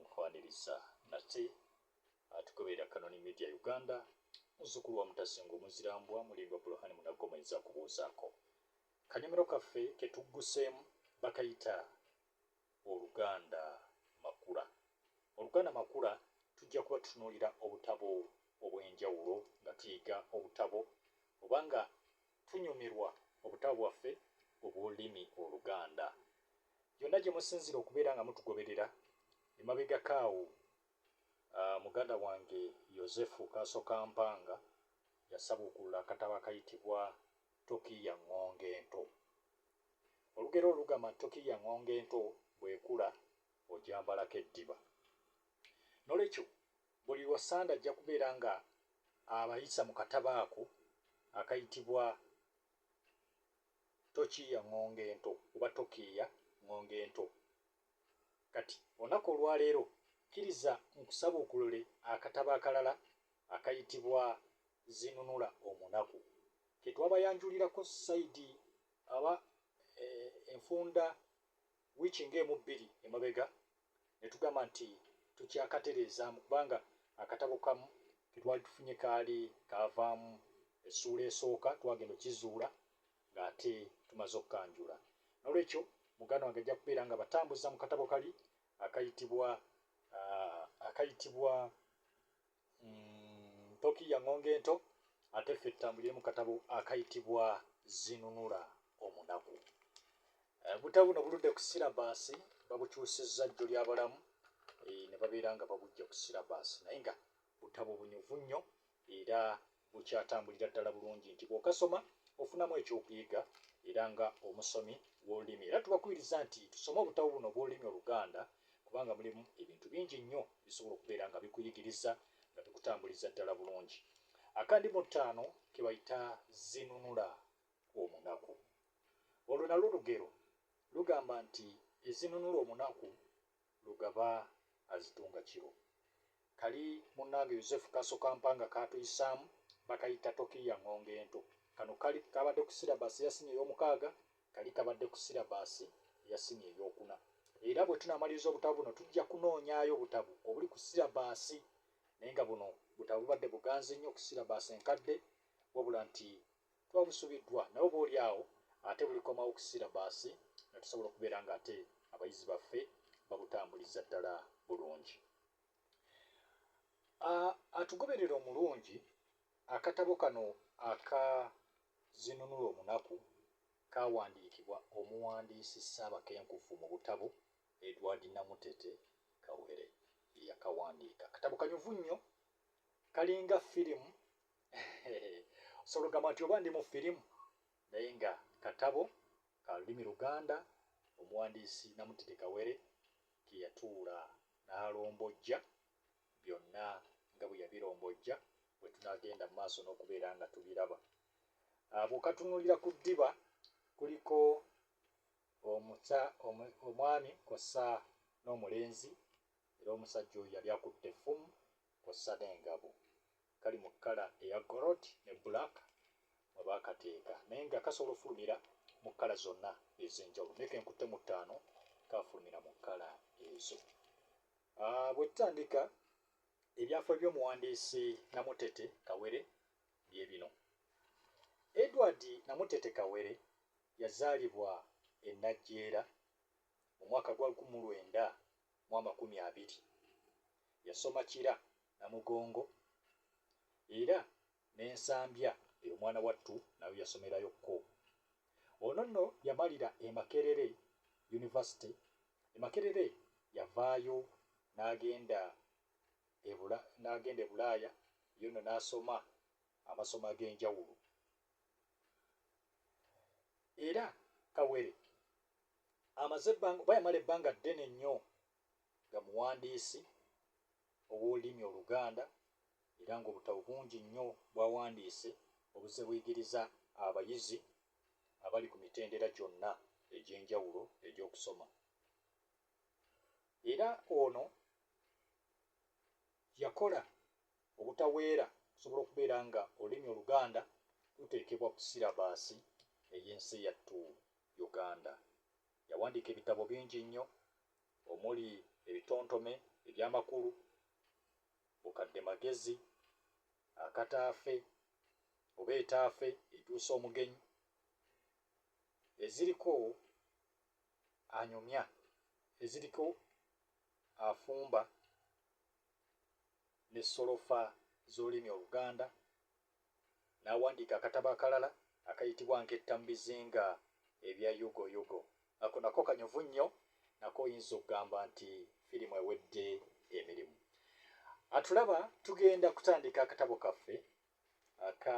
Nkwaniriza nate atugoberera Kanoni Media Uganda, muzzukulu wa Mutasinga omuzira mbwa, Mulindwa Buluhani Munagomwenzi akubuuzaako. Kanyomero kaffe ke tugguseemu bakayita Oluganda Makula. Oluganda Makula tujja kuba tutunuulira obutabo obw'enjawulo nga tuyiga obutabo oba nga tunyumirwa obutabo bwaffe obw'olulimi Oluganda. Yonna gye musinziira okubeera nga mutugoberera, emabegako awo muganda wange Yozefu Kaasokampanga yasabuukulula akatabo akayitibwa Toki ya Ŋŋonge Ento. Olugero olwo lugamba nti toki ya ŋŋonge ento bw'ekula ogyambalako eddiba. N'olwekyo buli lwa Ssande ajja kubeera nga abayisa mu katabo ako akayitibwa Tokiiya ŋŋonge ento oba Tokiiya ŋŋonge ento. Kati, olunaku olwa leero, kkiriza nkusabuukulule akatabo akalala akayitibwa Zinunula Omunaku, ke twabayanjulirako sayidi aba, e, enfunda wiiki nga emu bbiri emabega, ne tugamba nti tukyakatereezaamu kubanga akatabo kamu ke twali tufunye kaali kaavaamu essuula esooka, twagenda okukizuula ng'ate tumaze okukanjula. Noolwekyo muganda wange ajja kubeera ng'abatambuza mu katabo kali akayitibwa akayitibwa. mm, ntoki ya ŋŋonge ento ate ffe tutambulire mu katabo akayitibwa zinunula omunaku eh, butabo buno buludde ku sirabaasi babukyusizza jjo lyabalamu eh, ne babeera nga babujja ku sirabaasi naye nga butabo bunyuvu nnyo era bukyatambulira ddala bulungi nti bw'okasoma ofunamu eky'okuyiga era nga omusomi w'olulimi era tubakubiriza nti tusome obutabo buno obw'olulimi Oluganda kubanga mulimu ebintu bingi nnyo bisobola okubeera nga bikuyigiriza nga bikutambuliza ddala bulungi akandi mu ttaano ke bayita zinunula omunaku olwo nalwo lugero lugamba nti ezinunula omunaku Lugaba azitunga kiro. Kali munange Yozefu Kaso Kampanga kaatuyisaamu bakayita Tokiiya Ngonge Ento. Kano kali kabadde ku syllabus ya siniya ey'omukaaga, kali kabadde ku syllabus ya siniya ey'okuna. Era bwe tunaamaliriza obutabo buno tujja kunoonyaayo obutabo obuli ku syllabus naye nga buno butabo bubadde buganzi nnyo ku syllabus enkadde wabula nti Tuba busubiddwa naye oba oli awo ate bulikomawo ku sirabaasi ne tusobola okubeera ng'ate abayizi baffe babutambuliza ddala bulungi. A, Atugoberera omulungi, Akatabo kano aka Zinunula Omunaku kaawandiikibwa omuwandiisi ssaabakenkufu mu butabo, Edward Namutete Kawere ye yakawandiika. Katabo kanyuvu nnyo, kalinga firimu osobola ogamba nti oba ndi mu firimu naye nga katabo ka lulimi luganda omuwandiisi namutide kawere keyatuula n'alombojja byonna nga bwe yabirombojja bwe tunagenda mu maaso n'okubeera nga tubiraba ah, bwekatunulira ku ddiba kuliko omusa omwami kosa n'omulenzi era omusajja oyo yali akutte effumu kosa n'engabo Kali mu kkala eya Gold ne Black mwe baakateeka naye nga kasobola okufulumira mu kkala zonna ez'enjawulo naye ke nkutte mu ttaano kaafulumira mu kkala ezo. Ah, bwe tutandika ebyafaayo by'omuwandiisi Namutete Kawere bye bino. Edward Namutete Kawere yazaalibwa e Najjeera mu mwaka gwa lukumi mu lwenda mu amakumi abiri. Yasoma Kira, Namugongo era ne Nsambya eyo omwana wattu nayo yasomerayo kko. Ono nno yamalira e Makerere University. E Makerere yavaayo n'agenda e Bula n'agenda e Bulaaya yo nno n'asoma amasomo ag'enjawulo. Era Kawere amaze ebbanga oba yamala ebbanga ddene nnyo nga muwandiisi ow'olulimi oluganda era ng'obutabo bungi nnyo bwawandiise obuzze buyigiriza abayizi abali ku mitendera gyonna egy'enjawulo egy'okusoma era ono yakola obutaweera okusobola okubeera nga olulimi oluganda luteekebwa ku sirabaasi ey'ensi yattu Uganda. Yawandiika ebitabo bingi nnyo omuli ebitontome eby'amakulu, Bukadde magezi, Akata afe oba Etaafe etuusa omugenyi, Eziriko anyumya, Eziriko afumba ne Solofa z'olulimi Oluganda n'awandiika akatabo akalala akayitibwa Nketta mu bizinga ebya Yugoyugo. Ako nako kanyuvu nnyo, nako oyinza okugamba nti firimu ewedde emirimu. Atulaba tugenda kutandika akatabo kaffe aka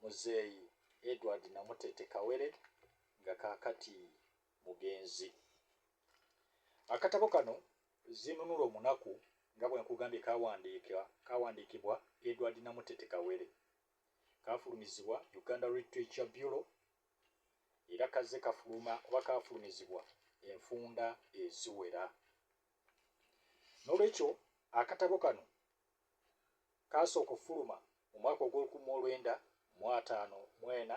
Muzeeyi Edward Namutete Kawere nga kaakati mugenzi. Akatabo kano Zinunula Omunaku nga bwe nkugambye kaawandiika kaawandiikibwa Edward Namutete Kawere. Kaafulumizibwa Uganda Literature Bureau era kazze kafuluma oba kaafulumizibwa enfunda eziwera. Noolwekyo akatabo kano kaasooka okufuluma mu mwaka ogw'olukumi mu olwenda mu ataano mu ena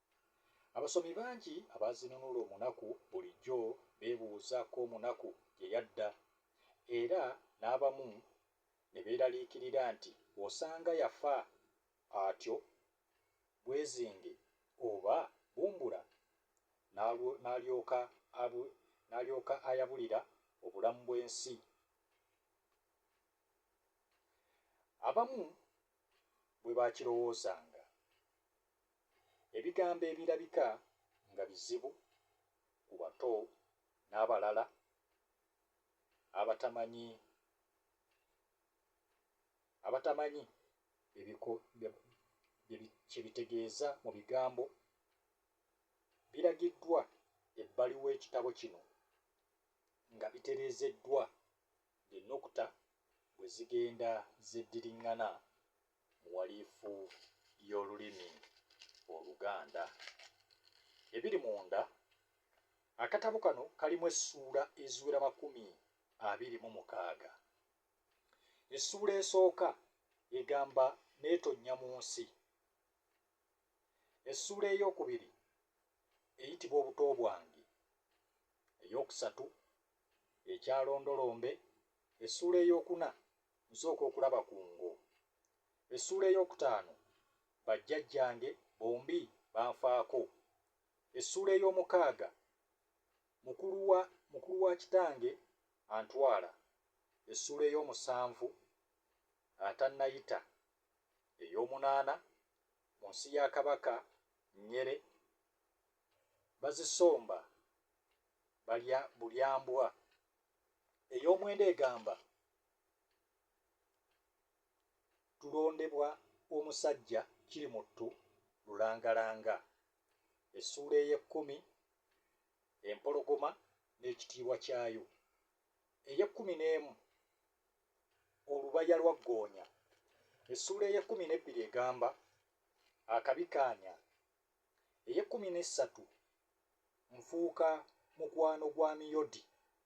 Abasomi bangi abaazinunula omunaku bulijjo beebuuza ko omunaku gye yadda era n'abamu ne beeraliikirira nti osanga yafa atyo bwezinge oba bumbula n'alyoka n'alyoka ayabulira obulamu bw'ensi. Abamu bwe baakirowoozanga. Ebigambo ebirabika nga bizibu ku bato n'abalala abatamanyi abatamanyi kye bitegeeza mu bigambo biragiddwa ebbali w'ekitabo kino nga bitereezeddwa ng'ennukuta bwe zigenda zeddiriŋŋana mu walifu y'olulimi Oluganda. Ebiri munda, Akatabo kano kalimu essuula eziwera makumi abiri mu mukaaga. Essuula esooka egamba Neetonnya mu nsi. Essuula ey'okubiri eyitibwa Obuto bwange. Ey'okusatu Ekyalondolombe. Essuula ey'okuna Nsooka okulaba ku ngo. Essuula ey'okutaano, Bajjajjange bombi banfaako. Essuula ey'omukaaga, Mukulu wa mukulu wa kitange antwala. Essuula ey'omusanvu, Atannayita. Ey'omunaana, Mu nsi ya Kabaka Nyere bazisomba balya bulyambwa. Ey'omwenda egamba tulondebwa omusajja Kirimuttu Lulangalanga, essuula ey'ekkumi, Empologoma n'ekitiibwa kyayo, ey'ekkumi n'emu, Olubaya lwa Ggoonya, essuula ey'ekkumi n'ebbiri egamba, Akabi kaanya, ey'ekkumi n'essatu, Nfuuka mukwano gwa Miyodi.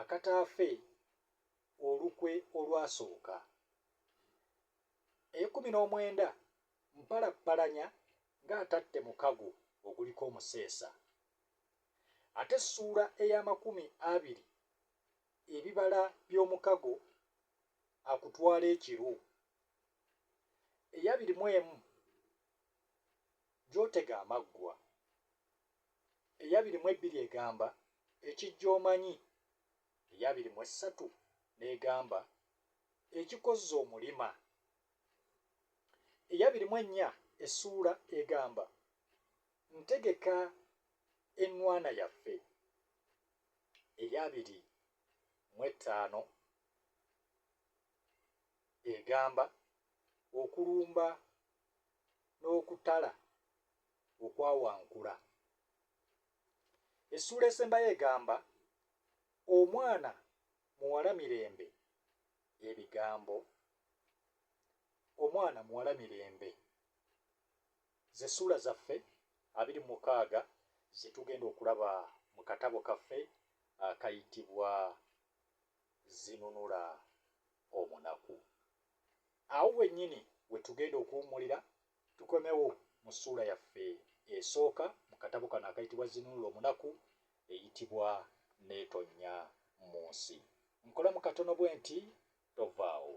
akataafe olukwe olwasooka. Ekumi n'omwenda mpalappalanya ng'atatte mukago oguliko omuseesa. Ate essuula ey'amakumi abiri ebibala by'omukago akutwala ekiru. Eyabiri mu emu gy'otega amaggwa. eyabiri mu ebbiri egamba, Ekijja omanyi, eyabiri mu essatu n'egamba, Ekikozza omulima, eyabiri mu ennya essuula egamba, Ntegeka ennwana yaffe, eyabiri mu ettaano egamba, Okulumba n'okutala okwawankula. Essuula esembayo egamba omwana muwala mirembe ebigambo omwana muwala mirembe z'essuula zaffe abiri mukaaga ze tugenda okulaba mu katabo kaffe akayitibwa zinunula omunaku. Awo wennyini we tugenda okuwummulira Tukomewo mu ssuula yaffe esooka mu katabo kano akayitibwa Zinunula Omunaku eyitibwa Neetonnya mu Nsi. Nkolamu katono bwenti, tovaawo.